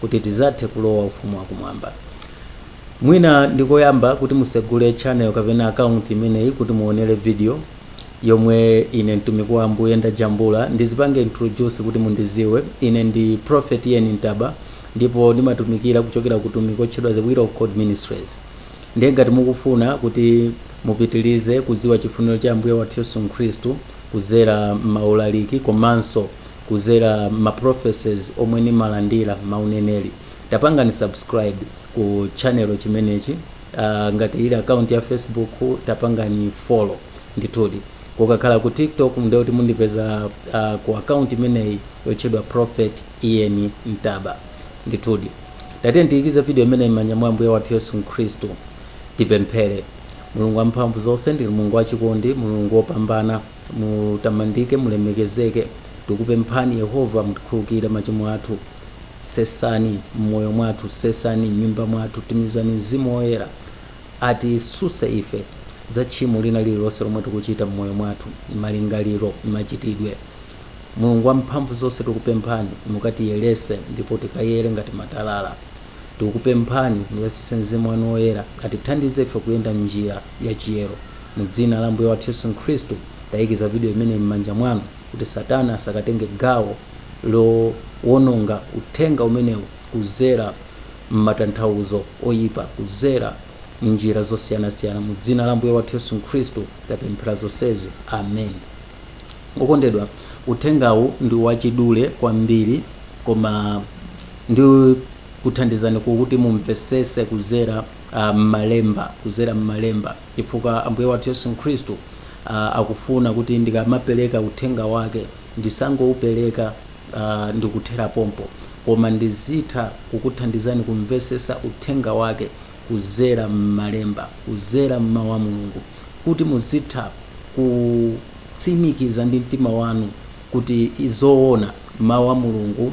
kuti tizathe kulowa ufumu wa kumwamba. Mwina ndi koyamba kuti musegule channel kapena account imeneyi kuti muonere video yomwe ine mtumiki wa Ambuye ndajambula ndizipange introduce kuti mundiziwe. Ine ndi Prophet Ian Ntaba ndipo ndimatumikira kuchokera ku utumiki otchedwa The Will of God Ministries. Ndiye ngati mukufuna kuti mupitilize kuziwa chifuniro cha Ambuye wathu Yesu Khristu kuzera m'maulaliki komanso kuzera ma prophecies omwe ndimalandira mauneneri tapangani subscribe ku channel chimenechi aah ngati ili account ya facebook tapangani follow ndithudi kukakhala ku tiktok ndiye kuti mundipeza aah ku account imeneyi yotchedwa prophet ian ntaba ndithudi tatiyeni tiyikize video imeneyi mmanja mwa ambuye wathu yesu khristu tipemphere Mulungu wamphamvu zonse ndinu Mulungu wachikondi Mulungu wopambana. Mutamandike, mulemekezeke. Tikupemphani, Yehova, mutikhululukire machimo athu. Sesani m'moyo mwathu, sesani m'nyumba mwathu. Tumizani Mzimu Woyera atisuse ife za tchimo lina lililonse lomwe tikuchita m'moyo mwathu, malingaliro, machitidwe. Mulungu wamphamvu zonse, tikupemphani mukatiyerese ndipo tikayere ngati matalala. Tikupemphani muyatsise Mzimu wanu Woyera atithandize ife kuyenda m'njira. ya chiyero. Mu dzina la Ambuye wathu Yesu Khristu, ndayikiza video imeneyi m'manja mwanu kuti satana asakatenge gawo lowononga uthenga umenewu kuzera m'matanthawuzo oyipa, kuzera m'njira zosiyanasiyana. Mu dzina la Ambuye wathu Yesu Khristu tapemphera zonsezi. Amen. Okondedwa, uthengawu ndi wachidule kwambiri koma ndikuthandizani kuti mumvesese kuzera. Mmalemba, kuzera Mmalemba, chifukwa Ambuye wathu Yesu Khristu a, akufuna kuti ndikamapereka Uthenga Wake, ndisangowupereka a, ndikuthera pompo, koma ndizitha kukuthandizani kumvesesa Uthenga Wake kuzera Mmalemba, kuzera Mmawu a Mulungu, kuti muzitha kutsimikiza ndi mtima wanu kuti izoona Mawu a Mulungu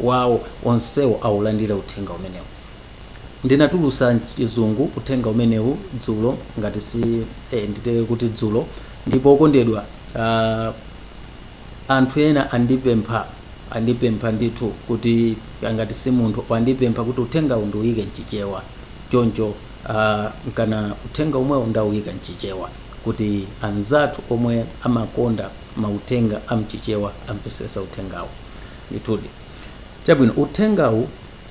wawo onsewo awulandire uthenga umenewu. Ndinatulusa mchizungu uthenga umenewu dzulo ngati si ee nditere kuti dzulo ndipo okondedwa aah anthu ena andipempha andipempha ndithu kuti ngati si munthu wandipempha kuti uthengawu ndiwuyike mchichewa choncho aah kana uthenga omwewo ndawuyika mchichewa kuti anzathu omwe amakonda mauthenga amchichewa amvesese uthengawu. Ndithudi. Chabwino, uthengawu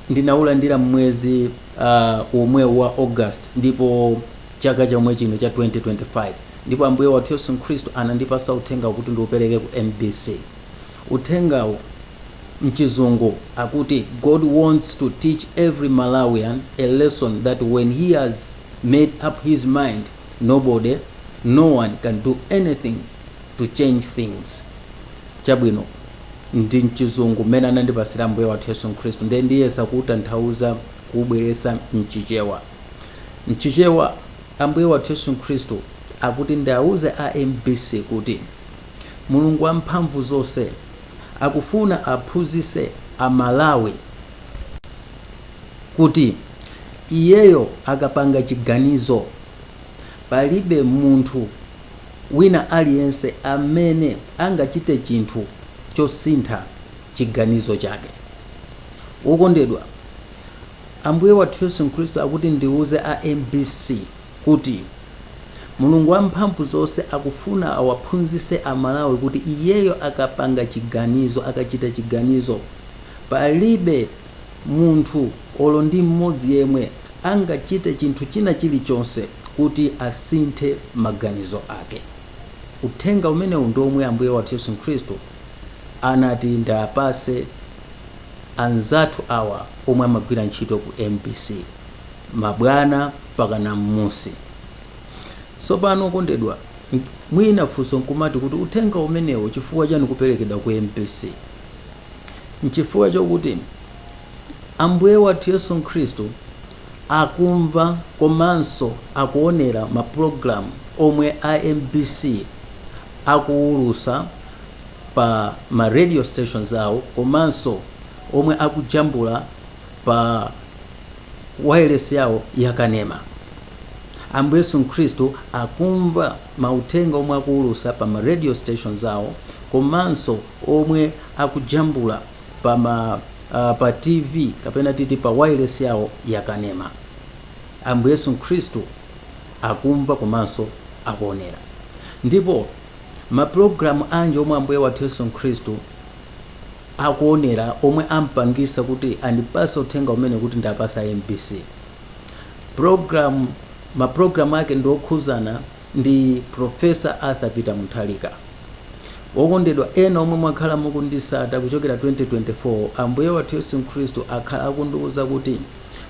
ndinawulandira mmwezi uh, omwewu wa August ndipo chaka chomwe chino cha 2025 ndipo Ambuye wathu Yesu Khristu anandipasa uthengawu kuti ndiupereke ku MBC. Uthengawu mchizungu akuti God wants to teach every Malawian a lesson that when he has made up his mind nobody, no one can do anything to change things. Chabwino, ndi mchizungu mmene anandipasira Ambuye wathu Yesu Nkhristu ndiye ndiyesa kutanthauza kubweresa mchichewa. Mchichewa Ambuye wathu Yesu Nkhristu akuti ndiauze a mbc kuti Mulungu wamphamvu zonse akufuna aphunzise aMalawi kuti iyeyo akapanga chiganizo palibe munthu, Wina aliyense amene angachite chinthu chosintha chiganizo chake. Wokondedwa, Ambuye wathu Yesu Khristu akuti ndiuze a mbc kuti Mulungu wamphamvu zonse akufuna awaphunzitse aMalawi kuti iyeyo akapanga chiganizo, akachita chiganizo, palibe munthu olo ndi mmodzi yemwe angachite chinthu china chilichonse. kuti asinthe maganizo ake. Uthenga umenewu ndi omwe Ambuye wathu Yesu Khristu anati ndiapase anzathu awa omwe amagwira ntchito ku mbc, mabwana mpakana mmusi. Tsopano okondedwa, mwina funso nkumati kuti uthenga umenewu chifukwa chani ukuperekedwa ku mbc? Nchifukwa chokuti Ambuye wathu Yesu Khristu akumva komanso akuonera ma program omwe a mbc akuwulusa pa ma radio stations awo komanso omwe akujambula pa wailesi yawo ya kanema. Ambuye Yesu Nkhristu akumva mauthenga omwe akuwulusa pa ma radio stations awo komanso omwe akujambula pa ma. pa TV kapena titi pa wailesi yawo yakanema. Ambuye Yesu Khristu akumva komanso akuonera. Ndipo mapulogalamu anji omwe Ambuye wathu Yesu Khristu akuonera omwe ampangisa kuti andipase uthenga umenewu kuti ndiapase a mbc? Mapulogalamu ake ndi okhuzana ndi Professor Arthur Peter Mutharika. Wokondedwa ena omwe mwakhala mukundisata kuchokera 2024, Ambuye wathu Yesu Khristu akhala akundiuza kuti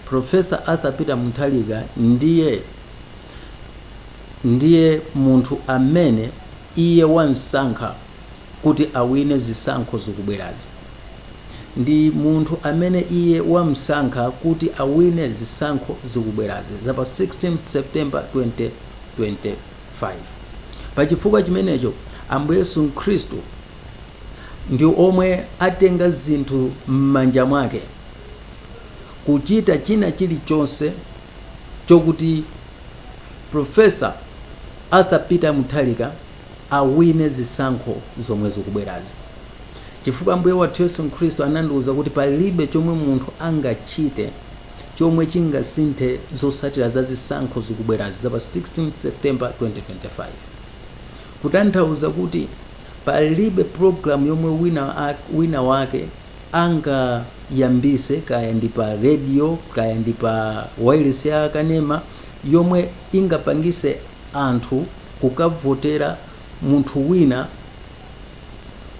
Professor Arthur Peter Mutharika ndiye munthu amene iye wamsankha. kuti awine zisankho zikubwerazi. Ndi munthu amene iye wamsankha kuti awine zisankho zikubwerazi za pa 16 September 2025. Pa chifukwa chimenecho Ambuye Yesu Khristu ndi omwe atenga zinthu m'manja mwake kuchita china chilichonse chokuti Prof. Arthur Peter Mutharika awine zisankho zomwe zikubwerazi. Chifukwa Ambuye wathu Yesu Khristu anandiuza kuti palibe chomwe munthu angachite chomwe chingasinthe zotsatira za zisankho zikubwerazi za pa 16 September 2025. Kutanthauza kuti palibe program yomwe wina wake angayambise kaya ndi pa radio kaya ndi pa wailesi ya kanema yomwe ingapangise anthu kukavotera munthu wina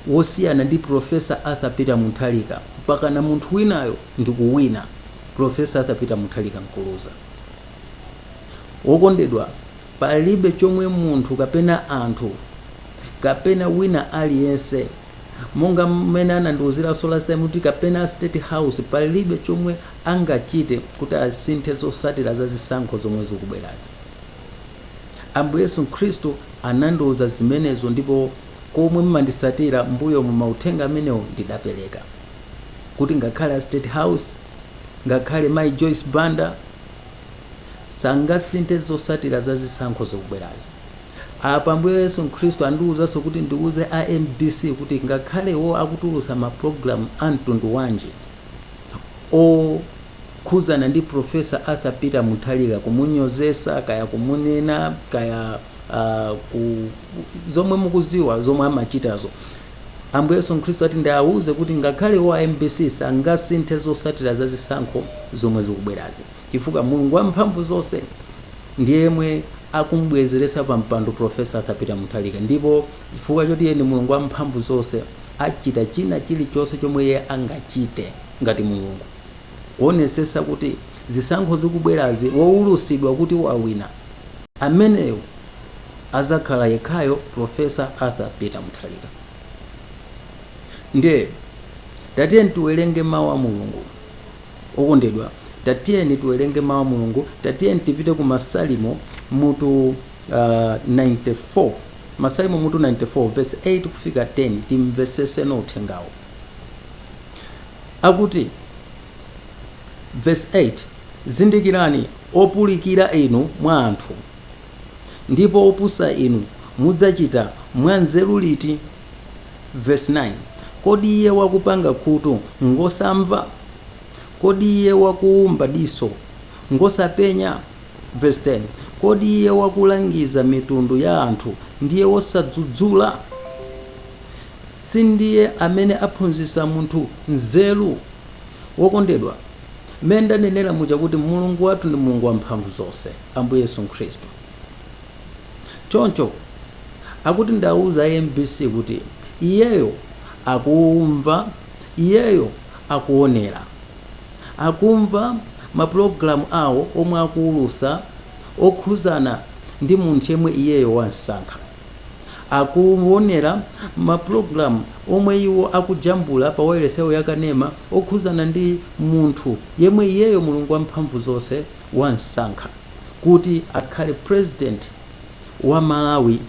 wosiyana ndi Prof. Arthur Peter Mutharika mpakana munthu winayo ndi kuwina, Prof. Arthur Peter Mutharika nkuluza. Wokondedwa, palibe chomwe munthu kapena anthu kapena wina aliyense, monga mmene anandiuziranso last time kuti kapena a State House, palibe chomwe angachite kuti asinthe zotsatira za zisankho zomwe zikubwerazi. Ambuye Yesu Khristu anandiuza zimenezo ndipo kwa omwe mmandisatira m'mbuyomu mauthenga amenewo ndidapereka kuti ngakhale a state house ngakhale mayi Joyce Banda sangasinthe zosatira za zisankho zikubwerazi. Apa Ambuye Yesu Khristu andiuzanso kuti ndiuze a mbc kuti ngakhale iwo akutulutsa ma program a mtundu wanji o. khudzana ndi Prof. Arthur Peter Mutharika, kumunyozesa, kaya kumunena, kaya zomwe mukudziwa zomwe amachitazo. Ambuye Yesu Khristu ati ndiauze kuti ngakhale iwo a mbc sangasinthe zotsatira za zisankho zomwe zikubwerazi chifukwa Mulungu wa mphamvu zonse ndi yemwe akum'bwezeretsa pa mpando Prof. Arthur Peter Mutharika ndipo chifukwa choti iye ndi Mulungu wa mphamvu zonse achita china chilichonse chomwe iye angachite ngati Mulungu. kuonesesa kuti zisankho zikubwerazi woulusidwa kuti wawina ameneyo azakhala yekhayo professor Arthur Peter Mutharika ndiye tatiyeni tiwerenge mawu a Mulungu okondedwa tatiyeni tiwerenge mawu a Mulungu tatiyeni tipite ku masalimo mutu uh, 94 masalimo mutu 94 verse 8 kufika 10 timvesese uthengawo Akuti, Vesi 8, Zindikirani, opulikira inu mwa anthu, ndipo opusa inu, mudzachita mwa nzeru liti? Vesi 9, Kodi iye wakupanga khutu ngwosamva? Kodi iye wakuumba diso ngwosapenya? Vesi 10, Kodi iye wakulangiza mitundu ya anthu ndiye wosadzudzula? sindiye amene aphunzitsa munthu nzeru? Wokondedwa, mmene ndanenera muja kuti Mulungu wathu ndi Mulungu wamphamvu zonse, Ambuye Yesu Khristu. Choncho akuti ndiwauze a mbc kuti iyeyo akumva, iyeyo akuonera. Akumva mapulogalamu awo omwe akuwulutsa okhudzana ndi munthu yemwe iyeyo wamsankha. Akuwonera mapulogalamu omwe iwo akujambula pa wailesi yawo ya kanema okhuzana ndi munthu yemwe iyeyo Mulungu wamphamvu zonse wamsankha kuti akhale president wa Malawi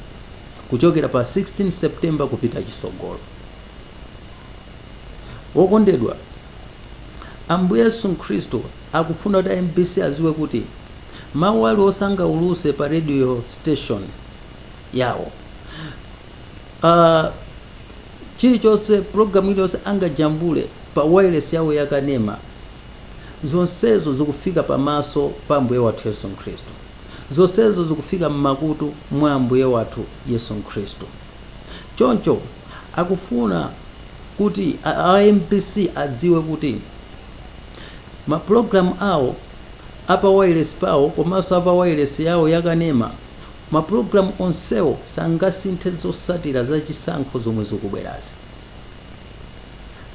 kuchokera pa 16 September kupita chitsogolo. Wokondedwa, Ambuye Yesu Khristu akufuna kuti a mbc adziwe kuti mawu aliwonse angauluse pa radio station, yawo uh, chilichonse pulogalamu iliyonse angajambule pa wailesi yawo yakanema zonsezo zikufika pamaso pa ambuye wathu yesu khristu zonsezo zikufika m'makutu mwa ambuye wathu yesu khristu choncho akufuna kuti a a mbc adziwe kuti mapulogalamu awo a pa wailesi pawo komanso a pa wailesi yawo yakanema Mapulogalamu onsewo sangasinthe zotsatira za chisankho zomwe zikubwerazi.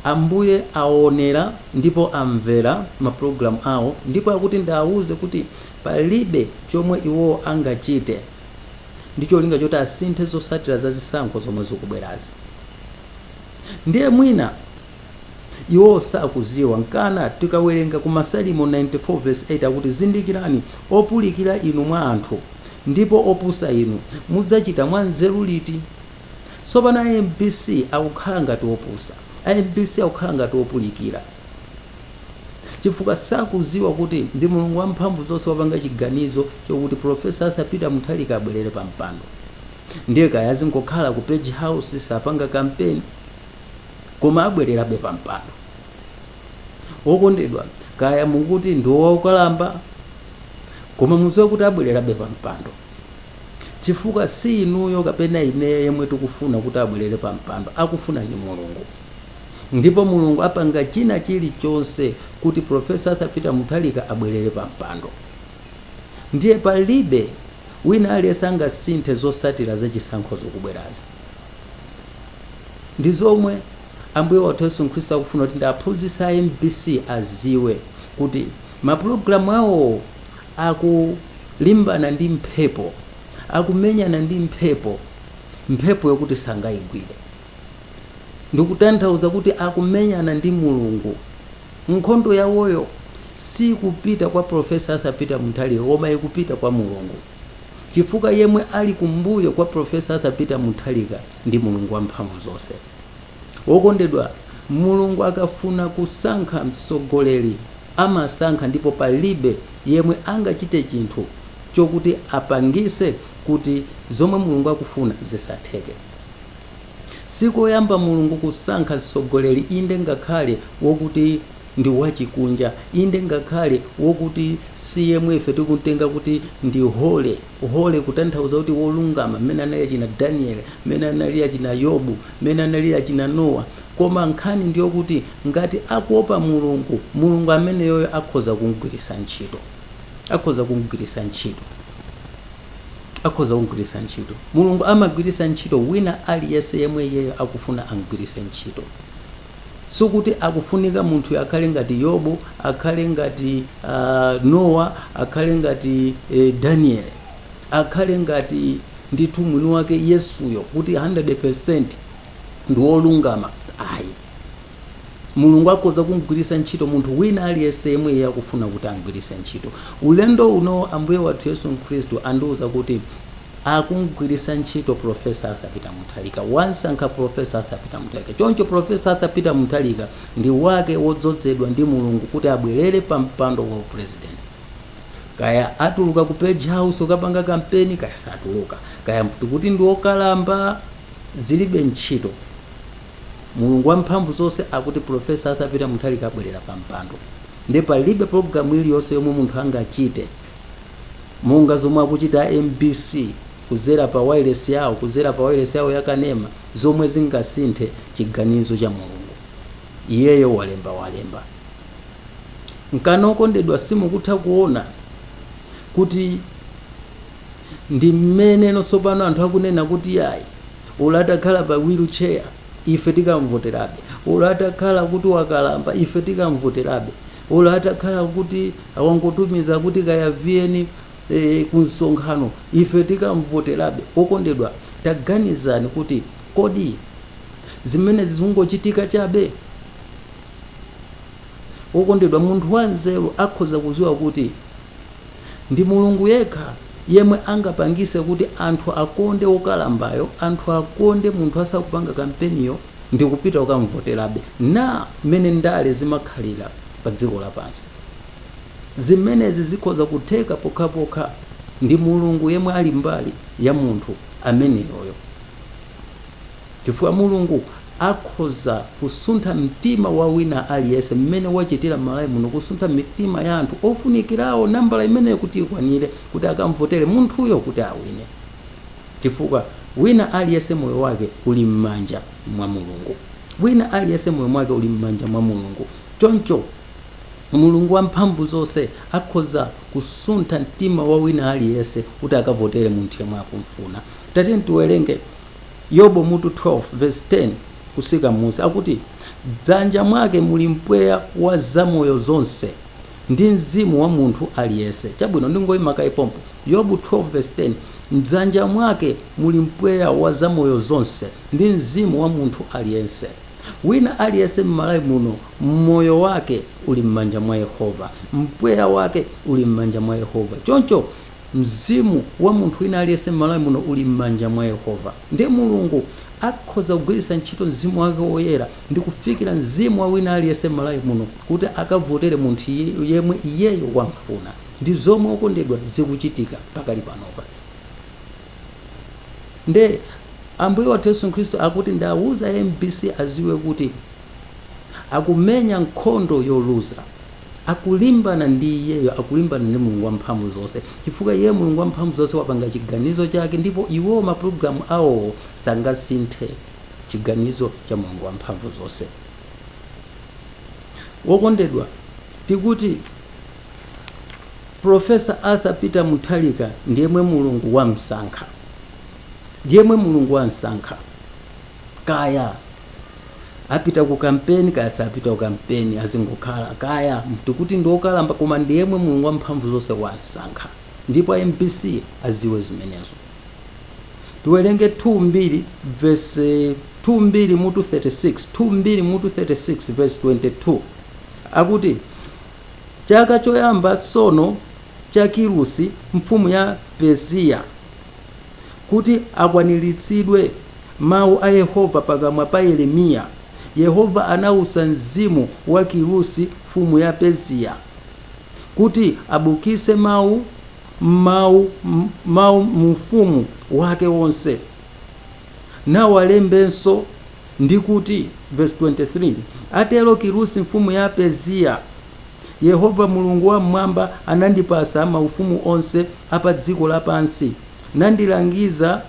Ambuye aonera ndipo amvera mapulogalamu awo ndipo akuti ndiwauze kuti palibe chomwe iwowo angachite ndi cholinga choti asinthe zotsatira za zisankho zomwe zikubwerazi. Ndiye mwina. Iwo sakudziwa nkana tikawerenga ku Masalimo 94 Vesi 8 akuti zindikirani opulikira inu mwa anthu ndipo opusa inu mudzachita mwa nzeru liti? Tsopano a mbc akukhala ngati opusa a mbc akukhala ngati opulikira chifukwa sakudziwa kuti ndi Mulungu wa mphamvu zonse wapanga chiganizo chokuti Professor Arthur Peter Mutharika abwerere pa mpando ndiye kaya azingokhala ku Page House sapanga campaign koma abwererabe pa mpando wokondedwa kaya mukuti ndi wokalamba koma muziwe kuti abwererabe pa mpando chifukwa si inuyo kapena ineyo yemwe tikufuna kuti abwerere pa mpando akufuna ndi mulungu ndipo mulungu apanga china chilichonse kuti profesa arthur peter mutharika abwerere pa mpando ndiye palibe wina aliyense angasinthe zotsatira za chisankho zikubwerazi Ndi zomwe Ambuye wathu Yesu Khristu akufuna kuti ndiwaphunzitse a mbc aziwe kuti ma program awowo akulimbana ndi mphepo, akumenyana ndi mphepo, mphepo yokuti sangayigwire. Ndikutanthauza kuti akumenyana ndi Mulungu. Nkhondo yawoyo sikupita kwa Prof. Arthur Peter Mutharika koma ikupita kwa Mulungu. chifukwa yemwe ali kumbuyo kwa Professor Arthur Peter Mutharika ndi Mulungu wamphamvu zonse. Wokondedwa, Mulungu akafuna kusankha mtsogoleri amasankha ndipo palibe yemwe angachite chinthu chokuti apangise kuti zomwe Mulungu akufuna zisatheke. Sikoyamba Mulungu kusankha mtsogoleri inde ngakhale wokuti ndi wachikunja, inde, ngakhale wokuti si yemwe ife tikumtenga kuti ndi holy, holy kutanthauza kuti wolungama, mmene anali achina Daniele, mmene anali achina Yobu, mmene anali achina Nowa. Koma nkhani ndi yokuti ngati akuopa Mulungu, Mulungu ameneyoyo akhoza kumgwiritsa ntchito, akhoza kumgwiritsa ntchito, akhoza kumgwiritsa ntchito. Mulungu amagwiritsa ntchito wina aliyense yemwe Iyeyo akufuna amgwiritse ntchito. Sikuti akufunika munthuyo akhale ngati Yobu, akhale ngati uh, Nowa, akhale ngati eh, Daniele, akhale ngati ndithu mwini wake Yesuyo kuti 100% ndi wolungama ayi. Mulungu akhoza kumgwiritsa ntchito munthu wina aliyense yemwe iye akufuna kuti amgwiritse ntchito. Ulendo uno Ambuye wathu Yesu Khristu andiwuza kuti akumgwiritsa ntchito Prof. Arthur Peter Mutharika, wamsankha Prof. Arthur Peter Mutharika. Choncho Prof. Arthur Peter Mutharika ndi wake wodzozedwa ndi Mulungu kuti abwerere pa mpando wa u President. Kaya atuluka ku Page House kukapanga kampeni kaya satuluka, kaya tikuti ndi okalamba, zilibe ntchito. Mulungu wamphamvu zonse akuti Prof. Arthur Peter Mutharika abwerera pa mpando. Ndiye palibe pulogalamu iliyonse yomwe munthu angachite. monga zomwe akuchita a mbc kuzera pa wailesi yawo kuzera pa wailesi yawo ya kanema zomwe zingasinthe chiganizo cha mulungu iyeyo walemba walemba nkana okondedwa simukutha kuona kuti ndi mmene tsopano anthu akunena kuti yayi olo atakhala pa wheelchair ife tikamvoterabe olo atakhala kuti wakalamba ife tikamvoterabe Olo atakhala kuti awangotumiza kuti kaya VN ku msonkhano ife tikamvoterabe. Okondedwa taganizani kuti kodi zimenezi zikungochitika chabe? Okondedwa munthu wanzeru akhoza kuziwa kuti ndi Mulungu yekha yemwe angapangise kuti anthu akonde okalambayo, anthu akonde munthu asakupanga kampeniyo, ndikupita kukamvoterabe. Na. Mmene ndale zimakhalira padziko lapansi, zimenezi zikhoza kutheka pokhapokha ndi Mulungu yemwe ali mbali ya munthu ameneyoyo, chifukwa Mulungu akhoza kusuntha mtima wa wina aliyense mmene wachitira m'Malawi muno, kusuntha mitima ya anthu ofunikirawo, nambala imeneyo kuti ikwanire, kuti akamvotere munthuyo kuti awine. Chifukwa, wina aliyense moyo wake uli mmanja mwa Mulungu. Wina aliyense moyo mwake uli mmanja mwa Mulungu. Choncho, Mulungu Wamphamvuzonse akhoza kusuntha mtima wa wina aliyense kuti akavotere munthu yemwe akumfuna. Tatiyeni tiwerenge Yobu mutu 12 vesi 10 kusika mmusi. Akuti, M'dzanja mwake muli mpweya wa zamoyo zonse. ndi mzimu wa munthu aliyense. Chabwino, ndingoima kaye pompo. Yobu 12 vs. 10, M'dzanja mwake muli mpweya wa zamoyo zonse ndi mzimu wa munthu aliyense. Wina aliyense m'Malawi muno moyo wake uli m'manja mwa Yehova. Mpweya wake uli m'manja mwa Yehova. Choncho mzimu wa munthu wina aliyense m'Malawi muno uli m'manja mwa Yehova. Ndiye Mulungu akhoza kugwiritsa ntchito mzimu wake woyera ndikufikira mzimu wa wina aliyense m'Malawi muno kuti akavotere munthu yemwe iyeyo wamfuna ndi zomwe okondedwa zikuchitika pakali panopa nde Ambuye wathu Yesu Khristu akuti ndiwauze mbc aziwe kuti akumenya nkhondo yoluza akulimbana ndi iyeyo akulimbana ndi Mulungu wamphamvu zonse chifukwa iye Mulungu wamphamvu zonse wapanga chiganizo chake ndipo iwowo mapulogalamu awowo sangasinthe chiganizo cha Mulungu Wamphamvu zonse. Wokondedwa, tikuti Professor Arthur Peter Mutharika ndi yemwe Mulungu wamsankha, ndi yemwe Mulungu wamsankha. Kaya apita ku kampeni kaya sapita ku kampeni, azingokhala kaya tikuti ndi okalamba, koma ndi yemwe Mulungu Wamphamvu zonse wamsankha, ndipo a MBC aziwe zimenezo. tiwerenge 2 mbiri verse 2 mbiri mutu 36 2 mbiri mutu 36 verse 22 akuti chaka choyamba tsono cha kirusi mfumu ya persiya kuti akwaniritsidwe mawu a yehova pakamwa pa yeremiya yehova anawusa mzimu wa kirusi mfumu ya persiya kuti abukise mawu mau, mau mu ufumu wake wonse nawalembenso ndi kuti verse 23 atero kirusi mfumu ya persiya yehova mulungu wa mmwamba anandipasa maufumu onse apa dziko lapansi nandilangiza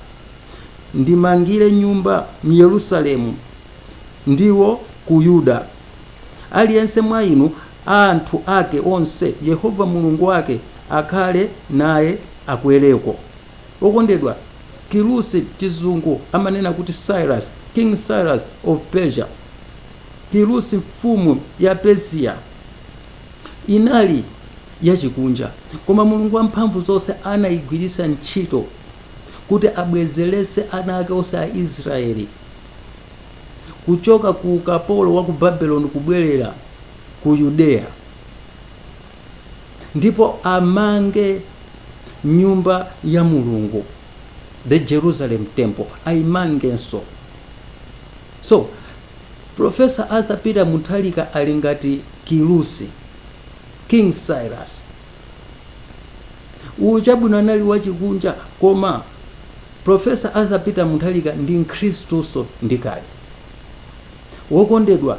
ndimangire nyumba myerusalemu ndiwo ku yuda Aliyense mwa inu, a anthu ake onse, Yehova Mulungu wake akhale naye akwereko. Okondedwa, Kirusi, Chizungu amanena kuti Cyrus, King Cyrus of Persia, Kirusi mfumu ya Persiya, inali yachikunja, koma Mulungu Wamphamvuzonse anaigwiritsa ntchito kuti abwezeretse ana ake onse a Isiraeli. kuchoka ku ukapolo wa ku Babiloni kubwerera ku Yudeya ndipo amange nyumba ya Mulungu the Jerusalem temple ayimangenso so Professor Arthur Peter Mutharika ali ngati Kirusi King Cyrus uyu chabwino anali wachikunja koma profesa arthur peter mutharika ndi mkhristunso ndi kale wokondedwa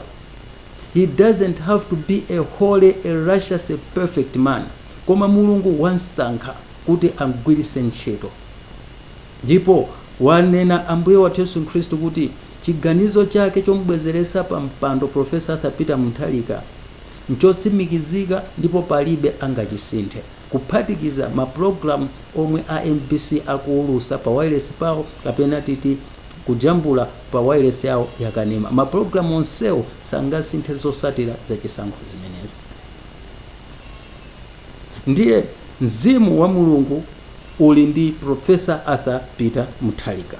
he doesn't have to be a holy a righteous a perfect man koma mulungu wamsankha kuti amgwiritse ntchito ndipo wanena ambuye wathu yesu khristu kuti chiganizo chake chomubwezeretsa pa mpando profesa arthur peter mutharika nchotsimikizika ndipo palibe angachisinthe, kuphatikiza ma pulogalamu omwe a mbc akuwulusa pa wailesi pawo kapena titi kujambula pa wailesi yawo ya kanema. Ma pulogalamu onsewo sangasinthe zotsatira za chisankho zimenezi. Ndiye mzimu wa Mulungu uli ndi Prof. Arthur Peter Mutharika.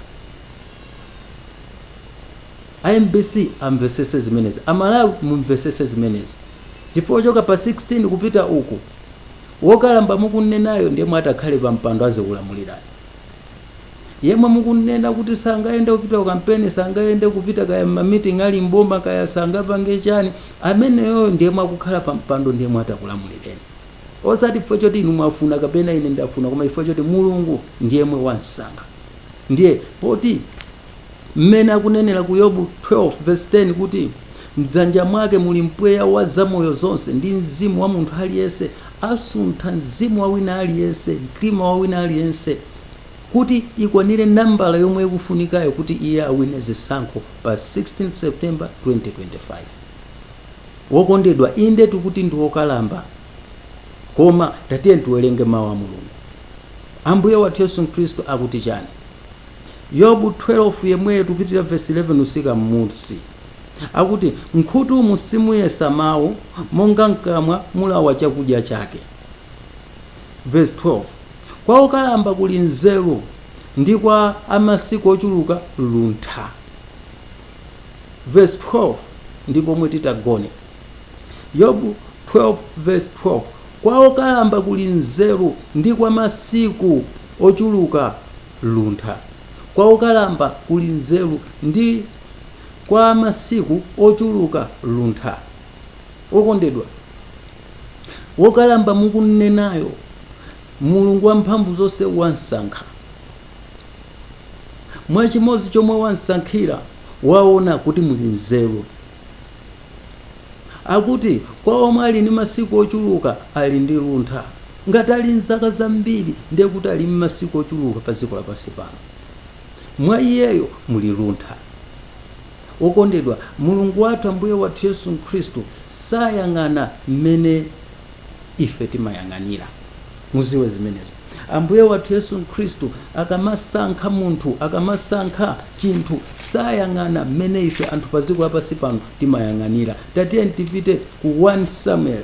A mbc amvetsese zimenezi amalawi mumvetsese zimenezi chifukwa kuchoka pa 16 kupita uku wokalamba mukumnenayo ndi yemwe atakhale pa mpando azikulamulirani yemwe mukumnena kuti sangayende kupita ku kampeni sangayende kupita kaya mma meeting ali mboma kaya sangapange chani ameneyoyo ndi yemwe akukhala pa mpando ndi yemwe atakulamulireni osati chifukwa choti inu mwafuna kapena ine ndafuna koma chifukwa choti mulungu ndi yemwe wamsankha ndiye poti Mmene akunenera ku Yobu 12 vesi 10 kuti, M'dzanja mwake muli mpweya wa zamoyo zonse, ndi mzimu wa munthu aliyense, asuntha mzimu wa wina aliyense, mtima wa wina aliyense, kuti ikwanire nambala yomwe ikufunikayo kuti iye awine zisankho pa 16 September 2025. Wokondedwa, inde tukuti ndi wokalamba, koma tatiye tiwerenge Mawu a Mulungu. Ambuye wathu Yesu Khristu akuti chani? Yobu 12 yemweyo tipitirira vesi 11 kutsika mmunsi. Akuti, M'khutumu simuyesa mawu, monga m'kamwa mulawa chakudya chake. Vesi 12 Kwa okalamba kuli nzeru, ndi kwa a masiku ochuluka luntha. Vesi 12 ndi pomwe titagone. Yobu 12 vesi 12 Kwa okalamba kuli nzeru, ndi kwa masiku ochuluka luntha. Kwa okalamba kuli nzeru ndi kwa a masiku ochuluka luntha. Okondedwa, wokalamba mukumnenayo, Mulungu wamphamvu zonse wamsankha. Mwa chimodzi chomwe wamsankhira, waona kuti muli nzeru. Akuti kwa omwe ali ndi masiku ochuluka, ali ndi luntha. Ngati ali m'zaka zambiri, ndiye kuti ali m'masiku ochuluka pa dziko lapansi pano. Mwa Iyeyo muli luntha. Wokondedwa, Mulungu wathu, Ambuye wathu Yesu Khristu, sayang'ana m'mene ife timayang'anira. Mudziwe zimenezo. Ambuye wathu Yesu Khristu akamasankha munthu, akamasankha chinthu, sayang'ana m'mene ife anthu pa dziko lapansi pano timayang'anira. Tatiyeni tipite ku 1 Samueli.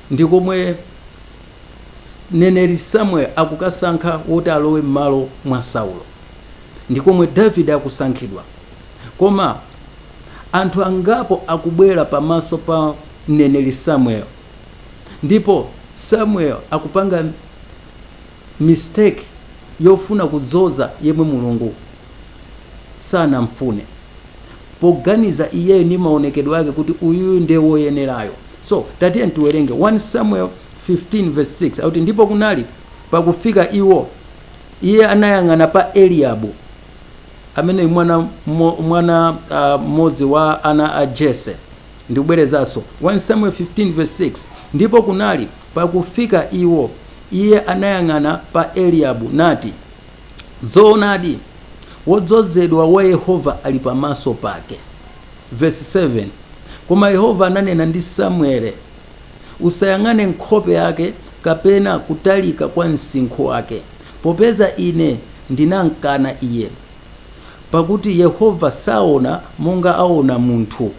Ndi komwe mneneri Samuel akukasankha woti alowe mmalo mwa Saulo. Ndi komwe Davide akusankhidwa. Koma anthu angapo akubwera pamaso pa mneneri Samuel ndipo Samuel akupanga. mistake yofuna kudzoza yemwe Mulungu sanamfune poganiza iyeyo ndi maonekedwe ake kuti uyuyu nde woyenerayo so tatiyeni tiwerenge 1 Samuel 15 vs 6 akuti ndipo kunali pakufika iwo iye anayang'ana pa Eliyabu ameneyu mwana mwana mmodzi wa ana a Jesse ndibwerezenso 1 Samuel 15 vs 6 ndipo kunali Pakufika iwo, iye anayang'ana pa Eliyabu nati, Zoonadi, wodzozedwa wa Yehova ali pamaso pake. Vesi 7, Koma Yehova ananena ndi Samuele, Usayang'ane nkhope yake kapena kutalika kwa msinkhu wake, popeza ine ndinamkana iye, pakuti Yehova saona monga aona munthu,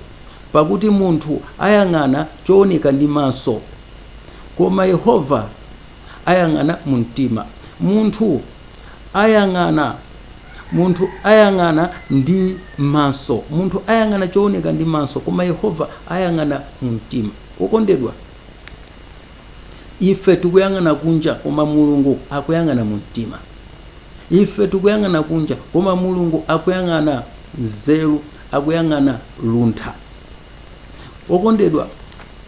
Pakuti munthu ayang'ana chooneka ndi maso, koma Yehova ayang'ana mu mtima. Munthu ayang'ana, munthu ayang'ana ndi maso, munthu ayang'ana chooneka ndi maso, koma Yehova ayang'ana mu mtima. Wokondedwa, ife tikuyang'ana kunja, koma Mulungu akuyang'ana mu mtima. Ife tikuyang'ana kunja, koma Mulungu akuyang'ana nzeru, akuyang'ana luntha. Okondedwa,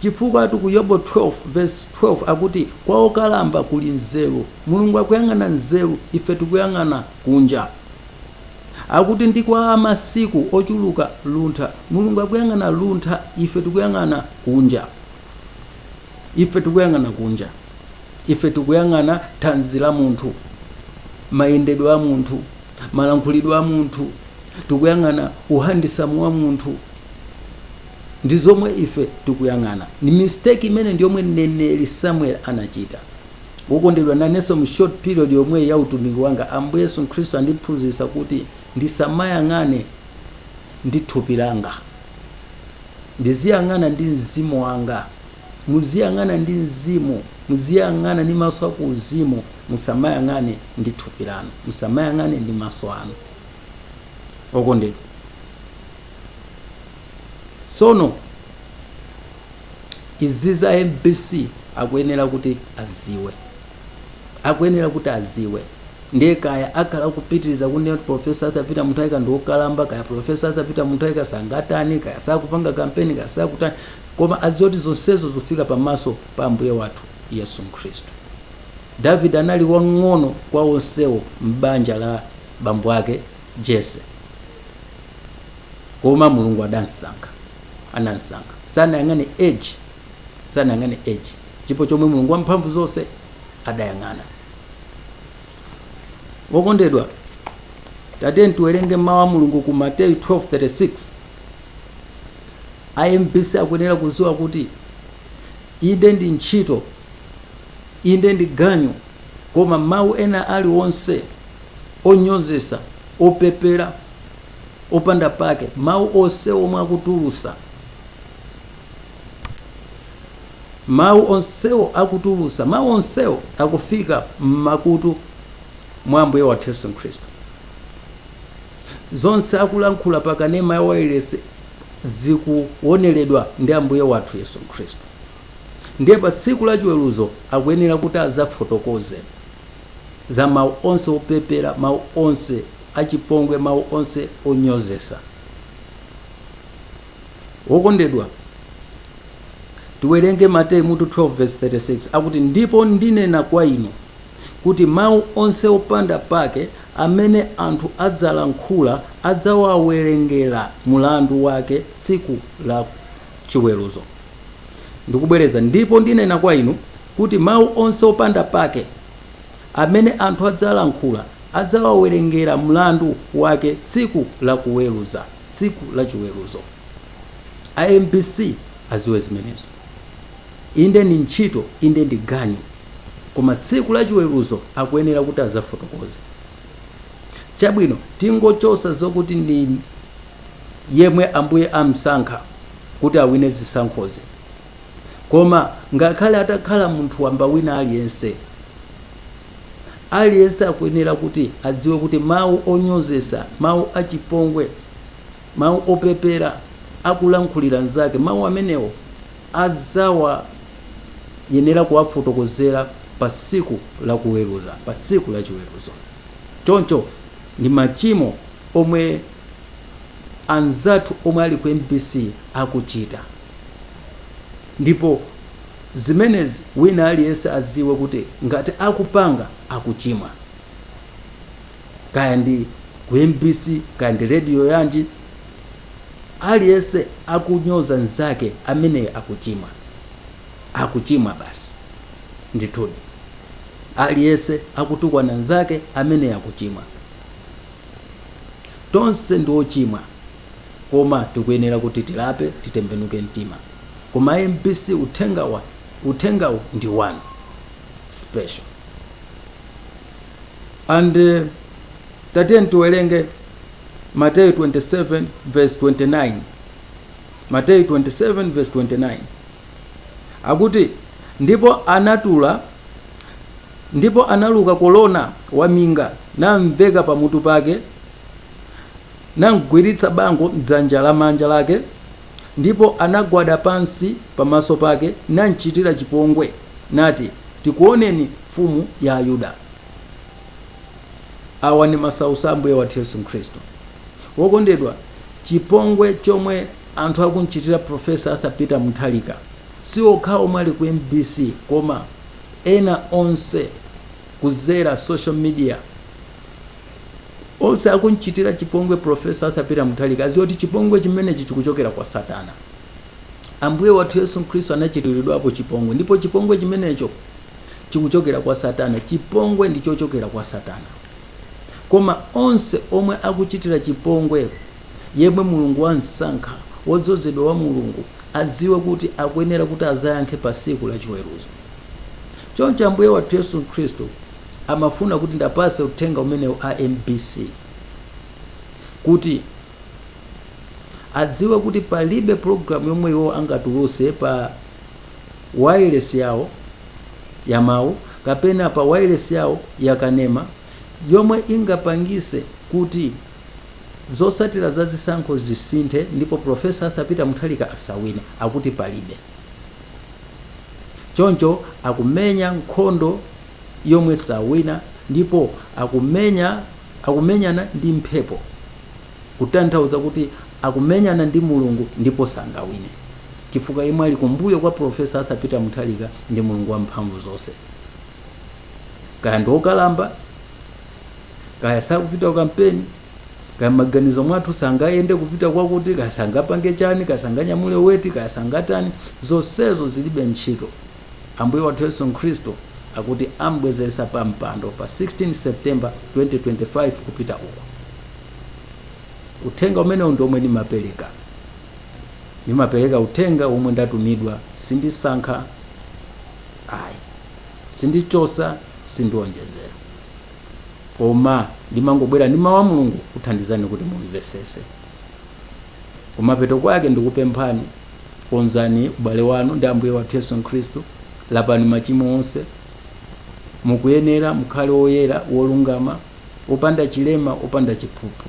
chifukwatu ku Yobu 12 vesi 12 akuti, kwa okalamba kuli nzeru. Mulungu akuyang'ana nzeru, ife tikuyang'ana kunja. Akuti ndi kwa amasiku ochuluka luntha. Mulungu akuyang'ana luntha, ife tikuyang'ana kunja. Ife tikuyang'ana kunja. Ife tikuyang'ana thanzi la munthu, mayendedwe a munthu, malankhulidwe a munthu. tikuyang'ana uhandisamu wa munthu ndi zomwe ife tikuyang'ana mistake imeneyi ndi yomwe mneneri samuel anachita wokondedwa nanenso mu short period yomweyi ya utumiki wanga ambuye yesu khristu andiphunzitsa kuti ndisamayang'ane ndi thupi langa ndiziyang'ana ndi mzimu wanga muziyang'ana ndi mzimu muziyang'ana ndi maso aku uzimu musamayang'ane ndi thupi lanu musamayang'ane ndi maso anu okondedwa sono izi za mbc akuyenera kuti aziwe akuyenera kuti aziwe ndiye kaya akhala kupitiriza kunena kuti profesa Arthur Peter Mutharika ndi wokalamba kaya profesa Arthur Peter Mutharika sangatani kaya sakupanga kampeni kaya sakutani koma aziwe zoti zonsezo zikufika pamaso pa ambuye wathu yesu khristu davide anali wang'ono kwa onsewo m'banja la bambo ake Jese. Koma Mulungu adamsankha, anamsankha. Sanayang'ane age, sanayang'ane age. Ndipo chomwe Mulungu wamphamvu zonse adayang'ana. Wokondedwa, tatiyeni tiwerenge mawu a Mulungu ku Mateyu 12:36. A MBC akuyenera kuziwa kuti inde ndi ntchito, inde ndi ganyu Koma mawu ena alionse onyozetsa, opepera, opanda pake, mawu onse omwe akutulusa mawu onsewo akutulusa mawu onsewo akufika m'makutu mwa Ambuye wathu Yesu Khristu. Zonse akulankhula pa kanema yawo wailesi zikuoneredwa ndi Ambuye wathu Yesu Khristu. Ndiye pa Tsiku la Chiweruzo akuyenera kuti adzafotokoze za mau onse opepera, mau onse achipongwe, mau onse onyozesa. Wokondedwa, tiwerenge Mateyu mutu 12 vesi 36 akuti, Ndipo ndinena kwa inu, kuti mau onse opanda pake amene anthu adzalankhula adzawawerengera mulandu wake tsiku la Chiweruzo. ndikubwereza, ndipo ndinena kwa inu, kuti mau onse opanda pake, amene anthu adzalankhula, adzawawerengera mlandu wake tsiku la kuweruza, tsiku la chiweruzo. A mbc aziwe zimenezo. Inde ndi ntchito, inde ndi ganyu, koma tsiku la chiweruzo akuyenera kuti adzafotokoze. Chabwino, tingochosa zokuti ndi. yemwe Ambuye amsankha kuti awine zisankhozi. Koma ngakhale atakhala munthu wamba wina aliyense, aliyense akuyenera kuti adziwe kuti mawu onyozesa, mawu achipongwe, mawu opepera akulankhulira nzake, mawu amenewo adzayenera kuwafotokozera pa tsiku la kuweruza, pa tsiku la chiweruzo. Choncho ndi machimo omwe anzathu omwe ali ku mbc akuchita ndipo zimenezi wina aliyense adziwe kuti ngati akupanga akuchimwa kaya ndi ku mbc kaya ndi radio yanji aliyense akunyoza nzake ameneyo akuchimwa akuchimwa basi ndithudi aliyense akutukwana nzake ameneyo akuchimwa Tonse ndi ochimwa koma tikuyenera kuti tilape titembenuke mtima. Koma a mbc uthengawu ndi wanu special and tatiyeni tiwerenge Mateyu 27:29 Mateyu 27:29 akuti ndipo anatula Ndipo analuka korona waminga, namveka pamutu pake, namgwiritsa bango m'dzanja lamanja lake, ndipo anagwada pansi pamaso pake, namchitira chipongwe, nati, Tikuoneni, Mfumu ya Ayuda. Awa ndi masautso a Ambuye wathu Yesu Khristu. Wokondedwa, chipongwe chomwe anthu akumchitira Prof. Arthur Peter Mutharika si okhawo omwe ali ku mbc koma. ena onse kuzera social media onse akunchitira chipongwe profesa arthur peter mutharika adziwe kuti chipongwe chimenechi chikuchokera kwa satana ambuye wathu yesu khristu anachitiridwapo chipongwe ndipo chipongwe chimenecho chikuchokera kwa satana chipongwe ndi chochokera kwa satana koma onse omwe akuchitira chipongwe yemwe Mulungu wam'sankha, wodzozedwa wa Mulungu, adziwe kuti akuyenera kuti adzayankhe pa Tsiku la Chiweruzo. Choncho Ambuye wathu Yesu Khristu amafuna kuti ndapatse uthenga umenewu a mbc kuti adziwe kuti palibe program yomwe iwo angatulutse pa wailesi yawo ya mawu kapena pa wailesi yawo ya kanema yomwe ingapangitse kuti Zotsatira za zisankho zisinthe ndipo Prof Arthur Peter Mutharika asawine akuti palibe. Choncho akumenya nkhondo yomwe sawina ndipo akumenyana ndi mphepo kutanthauza kuti akumenyana ndi Mulungu ndipo sangawine chifukwa yemwe ali kumbuyo kwa Prof Arthur Peter Mutharika ndi Mulungu wamphamvu zonse. Kaya ndi okalamba? kaya sakupita kukampeni kaya mmaganizo mwathu sangayende kupita kwakuti kaya sangapange chani kaya sanganyamule weti kaya sangatani zonsezo zilibe ntchito ambuye wathu yesu khristu akuti ambwezeretsa pa mpando pa 16 september 2025 kupita uko uthenga umenewu ndi omwe ndimapereka ndimapereka uthenga womwe ndatumidwa sindisankha ayi sindichosa sindionjezera koma ndimangobwera ndi mawu a mulungu kuthandizani kuti mumvesese kumapeto kwake ndikupemphani konzani ubale wanu ndi ambuye wathu yesu khristu lapani machimo onse mukuyenera mukhale woyera wolungama opanda chilema opanda chiphuphu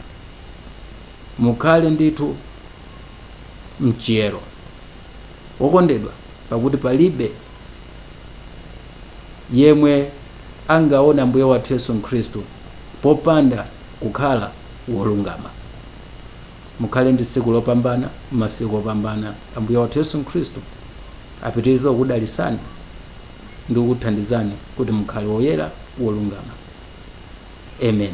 mukhale ndithu mchiyero Wokondedwa, pakuti palibe yemwe angaone Ambuye wathu Yesu Khristu popanda kukhala wolungama. Mukhale ndi tsiku lopambana, masiku opambana. Ambuye wathu Yesu Khristu apitirize kukudalitsani ndi kukuthandizani kuti mukhale woyera, wolungama. Amen.